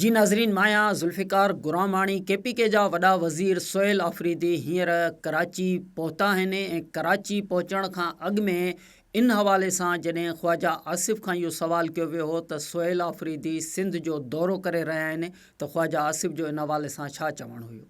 جي ناظرين مايا ذوالفقار گراماڻي ڪي P K جا وڏا وزير سهيل آفريدي هينئر ڪراچي پهتا آهن ۽ ڪراچي پهچڻ کان اڳ ۾ ان حوالي سان جڏهن خواجا آصف کان اهو سوال ڪيو ويو هو ته سهيل آفريدي سنڌ جو دورو ڪري رهيا آهن ته خواجا آصف جو ان حوالي سان ڇا چوڻ هيو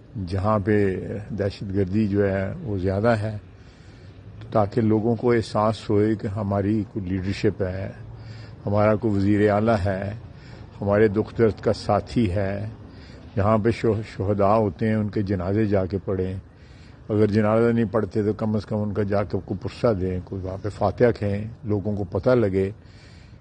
جهان پي دهشت گردي جو هي وو زياده هي تاڪه لوگون ڪو احساس هوئي ڪه هماري ڪو ليڊرشپ هي همارا ڪو وزير اعليٰ هي هماري دک درد ڪا ساٿي هي جهان پي شهداء هوتي هي ان ڪي جنازي جا ڪي پڙهي اگر جنازه نهي پڙهتي تو ڪم از ڪم ان ڪا جا ڪي ڪو پرسه دي ڪو وهان پي فاتحه کي لوگون ڪو پته لگي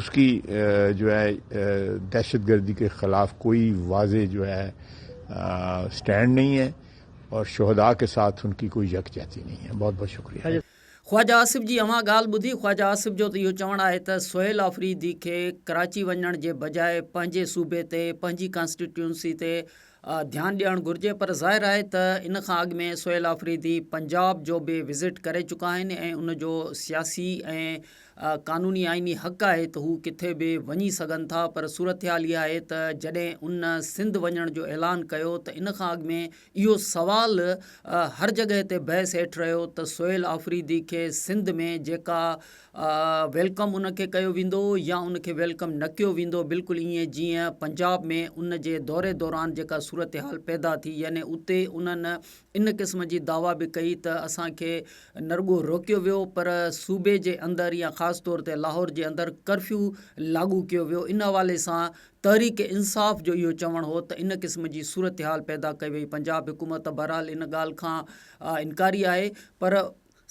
اس کي جو هي دهشت گردي کي خلاف ڪوئي واضح جو هي اسٽينڊ نهي هي اور شهدا کي ساٿ ان کي ڪوئي يڪجهتي نهي هي بهت بهت شڪريه. خواجه آصف جي اوهان ڳالهه ٻڌي خواجه آصف جو ته اهو چوڻ آهي ته سهيل آفريدي کي ڪراچي وڃڻ جي بجاء پنهنجي صوبي تي پنهنجي ڪانسٽيٽيونسي تي ڌيان ڏيڻ گهرجي پر ظاهر آهي ته ان کان اڳ ۾ سهيل آفريدي پنجاب جو به وزٽ ڪري چڪا آهن ۽ ان جو سياسي ۽ قانوني آئيني حق آهي ته هو ڪٿي به وڃي سگهن ٿا پر صورتحال اها آهي ته جڏهن ان سنڌ وڃڻ جو اعلان ڪيو ته ان کان اڳ ۾ اهو سوال هر جڳهه تي بحث هيٺ رهيو ته سهيل آفريدي کي سنڌ ۾ جيڪا ويلڪم ان کي ڪيو ويندو يا ان کي ويلڪم نه ڪيو ويندو بلڪل ائين جيئن پنجاب ۾ ان جي دوري دوران جيڪا صورتحال پيدا ٿي يعني اتي انهن ان قسم جي دعويٰ به ڪئي ته اسان کي نه رڳو روڪيو ويو پر صوبي جي اندر يا خاص طور تي لاهور جي اندر ڪرفيو لاڳو ڪيو ويو ان حوالي سان تحريڪ انصاف جو اهو چوڻ هو ته ان قسم جي صورتحال پيدا ڪئي وئي پنجاب حڪومت بهرحال ان ڳالهه کان انڪاري آهي پر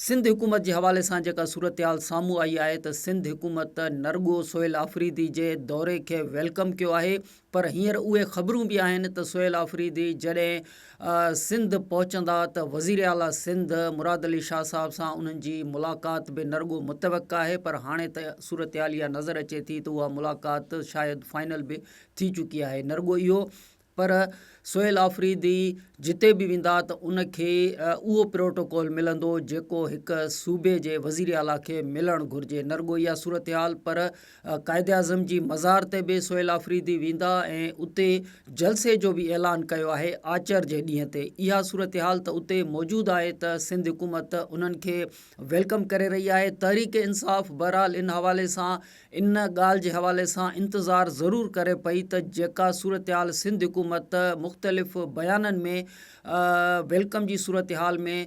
سنڌ حڪومت جي حوالي سان جيڪا صورتحال سامهون آئي آهي ته سنڌ حڪومت نه رڳو سهيل آفريدي جي دوري کي ويلڪم ڪيو آهي پر هينئر اهي خبرون به آهن ته سهيل آفريدي جڏهن سنڌ پهچندا ته وزير اعليٰ سنڌ مراد علي شاهه صاحب سان انهن جي ملاقات به نه رڳو متوقع آهي پر هاڻي ته صورتحال اها نظر اچي ٿي ته اها ملاقات شايد فائنل به ٿي چڪي آهي نه رڳو اهو پر سهيل آفريدي جتي به ويندا ته ان کي اهو پروٽوڪول ملندو جيڪو هڪ صوبي جي وزيراعليٰ کي ملڻ گهرجي. نه رڳو اها صورتحال پر قائداعظم جي مزار تي به سهيل آفريدي ويندا ۽ اتي جلسي جو به اعلان ڪيو آهي آچر جي ڏينهن تي. اها صورتحال ته اتي موجود آهي ته سنڌ حڪومت انهن کي ويلڪم ڪري رهي آهي. تحريڪ انصاف بهرحال ان حوالي سان ان ڳالهه جي حوالي سان انتظار ضرور ڪري پئي ته جيڪا صورتحال سنڌ حڪومت مختلف بيانن ۾ ويلڪم جي صورتحال ۾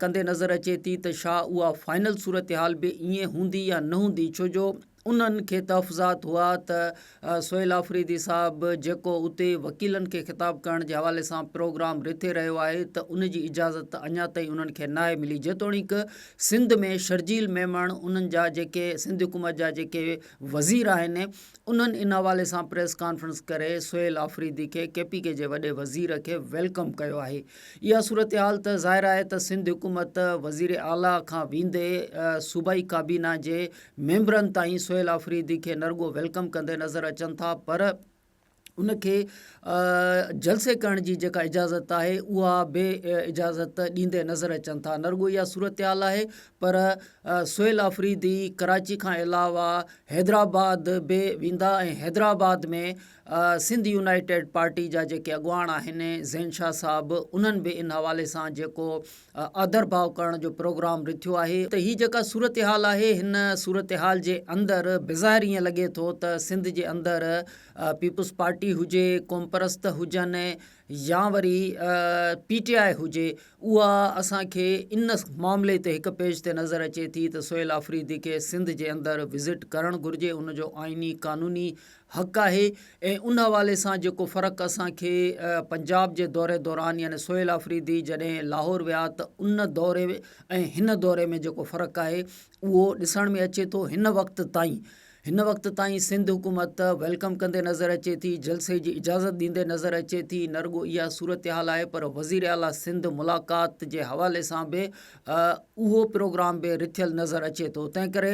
ڪندي نظر اچي ٿي ته شا اها فائنل صورتحال به ائين هوندي يا نه هوندي ڇو جو انهن کي تحفظات هئا ته سهيل آفريدي صاحب جيڪو اتي وڪيلن کي خطاب ڪرڻ جي حوالي سان پروگرام رٿي رهيو آهي ته ان جي اجازت اڃا تائين انهن کي ناهي ملي جيتوڻيڪ سنڌ ۾ شرجيل ميمڻ انهن جا جيڪي سنڌ حڪومت جا جيڪي وزير آهن انهن ان حوالي سان پريس ڪانفرنس ڪري سهيل آفريدي کي ڪي پي ڪي جي وڏي وزير کي ويلڪم ڪيو آهي اها صورتحال ته ظاهر آهي ته سنڌ حڪومت وزير اعليٰ کان ويندي صوبائي ڪابينا جي ميمبرن تائين سهيل آفريدي کي نرڳو ويلڪم ڪندي نظر اچن ٿا پر ان کي جلسي ڪرڻ جي جيڪا اجازت آهي اها به اجازت ڏيندي نظر اچن ٿا نه رڳو اها صورتحال آهي پر سهيل آفريدي ڪراچي کان علاوه حيدرآباد به ويندا ۽ حيدرآباد ۾ سنڌ يونائيٽيڊ پارٽي جا جيڪي اڳواڻ آهن زين شاهه صاحب انهن به ان حوالي سان جيڪو آڌرڀاء ڪرڻ جو پروگرام رٿيو آهي ته هي جيڪا صورتحال آهي هن صورتحال جي اندر بظاهر ائين لڳي ٿو ته سنڌ جي اندر پيپلز پارٽي هجي قومپرست هجن يا وري پي ٽي آء هجي اها اسان کي ان معاملي تي هڪ پيج تي نظر اچي ٿي ته سهيل آفريدي کي سنڌ جي اندر وزٽ ڪرڻ گهرجي ان جو آئيني قانوني حق آهي ۽ ان حوالي سان جيڪو فرق اسان کي پنجاب جي دوري دوران يعني سهيل آفريدي جڏهن لاهور ويا ته ان دوري ۽ هن دوري ۾ جيڪو فرق آهي اهو ڏسڻ ۾ اچي ٿو هن وقت تائين هن وقت تائين سنڌ حڪومت ويلڪم ڪندي نظر اچي ٿي جلسي جي اجازت ڏيندي نظر اچي ٿي نه رڳو اها صورتحال آهي پر وزير اعليٰ سنڌ ملاقات جي حوالي سان به اهو پروگرام به رٿيل نظر اچي ٿو تنهن ڪري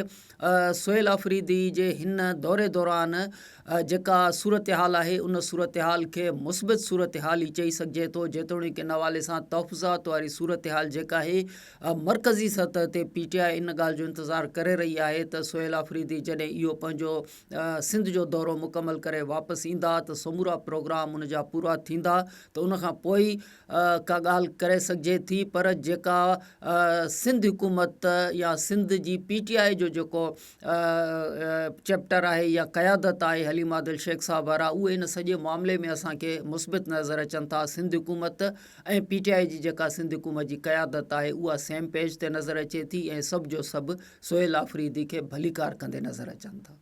سهيل آفريدي جي هن دوري دوران جيڪا صورتحال آهي ان صورتحال کي مثبت صورتحال ئي چئي سگهجي ٿو جيتوڻيڪ ان حوالي سان تحفظات واري صورتحال جيڪا آهي مرڪزي سطح تي پي ٽي آء ان ڳالهه جو انتظار ڪري رهي آهي ته سهيل آفريدي جڏهن اهو پنهنجو سنڌ جو دورو مڪمل ڪري واپس ايندا ته سمورا پروگرام ان جا پورا ٿيندا ته ان کان پوء ئي ڪا ڳالهه ڪري سگهجي ٿي پر جيڪا سنڌ حڪومت يا سنڌ جي پي ٽي آء جو جيڪو چئپٽر آهي يا قيادت آهي حليم عادل شيخ صاحب وارا اهي ان سڄي معاملي ۾ اسان کي مثبت نظر اچن ٿا سنڌ حڪومت ۽ پي ٽي آء جي جيڪا سنڌ حڪومت جي قيادت آهي اها سيم پيج تي نظر اچي ٿي ۽ سڀ جو سڀ سهيل آفريدي کي ڀليڪار ڪندي نظر اچن ٿا